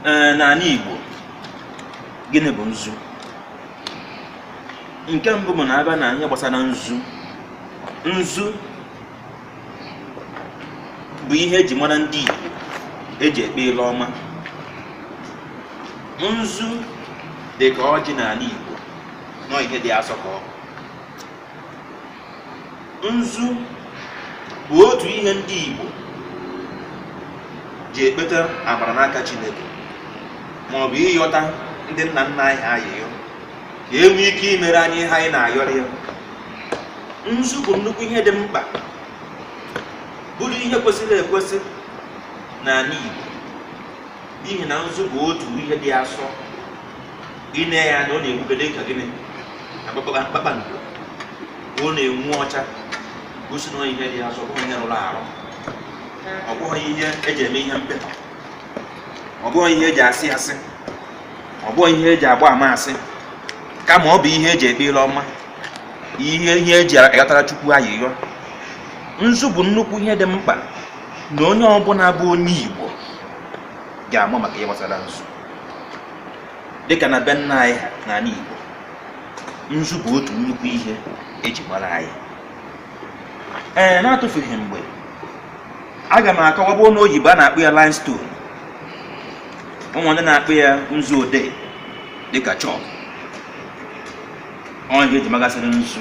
ee n'ala Igbo gịnị bụ nzu nke mbụ bụ na abịa na ihe gbasara nzu nzu bụ ihe eji mara ndị Igbo eji ekpe ile ọma nzu dị ka ọjị n'ala Igbo na ọ ihe dị asọ ka ọ nzu bụ otu ihe ndị Igbo ji ekpeta amara n'aka Chineke ma ọ bụ ịyọta ndị nna nna anyị ha ayịyọ ka e nwee ike imere anyị ihe anyị na-ayọrọ ya nzu bụ nnukwu ihe dị mkpa bụrụ ihe kwesịrị ekwesị n'ala Igbo n'ihi na nzu bụ otu ihe dị asọ ine ya anya ọ na-enwuke dị ka gịnị na kpakpa- kpakpando ọ na-enwu ọcha gosi na ọ ihe dị asọ ọ bụghị ihe rụrụ arụ ọ bụghị ihe eji eme ihe mpụ ọ bụghị ihe eji asị asị ọ bụghị ihe eji agba ama asị kama ọ bụ ihe eji ekpe ile ọma ihe ihe eji ayọtara chukwu ayịyọ nzu bụ nnukwu ihe dị mkpa na onye ọbụla bụ onye igbo ga-ama maka ihe gbasara nzu dịka na be nna anyị n'ala Igbo nzu bụ otu nnukwu ihe eji mara anyị ee na-atụfughị mgbe aga m akọwa bụ na oyibo a na-akpọ ya limestone o nwee ndị na-akpọ ya nzu odee dịka chalk ọ ihe eji magasịrị nzu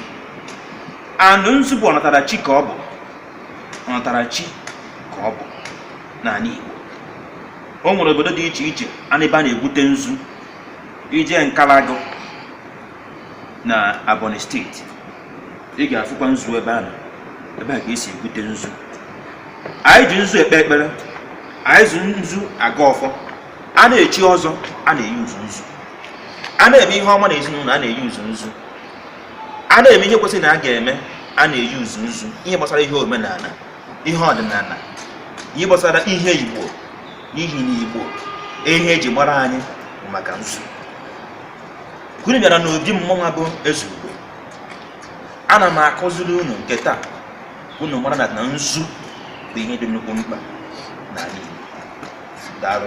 and nzu bụ ọnatarachi ka ọ bụ ọnatarachi ka ọ bụ n'ala Igbo o nwere obodo dị iche iche a na- ebe a na-egwute nzu i jee Nkalagụ na Ebonyi steeti ị ga-afụkwa nzu ebe ahụ ebe a ka esi egwute nzu anyị ji nzu ekpe ekpere anyị ji nzu agọ ọfọ a na-echi ọzọ a na-e-use nzu a na-eme ihe ọma na ezinụlọ a na-e-use nzu a na-eme ihe kwesịrị na a ga-eme a na-e-use nzu ihe gbasara ihe omenala ihe ọdịnala ihe gbasara ihe igbo n'ihi na igbo ihe eji mara anyị bụ maka nzu unu bịara n'obi mmụnwa bụ eze ugbe ana m akụziri unu nke taa unu mara na na nzu bụ ihe dị nnukwu mkpa n'ala igbo daalụ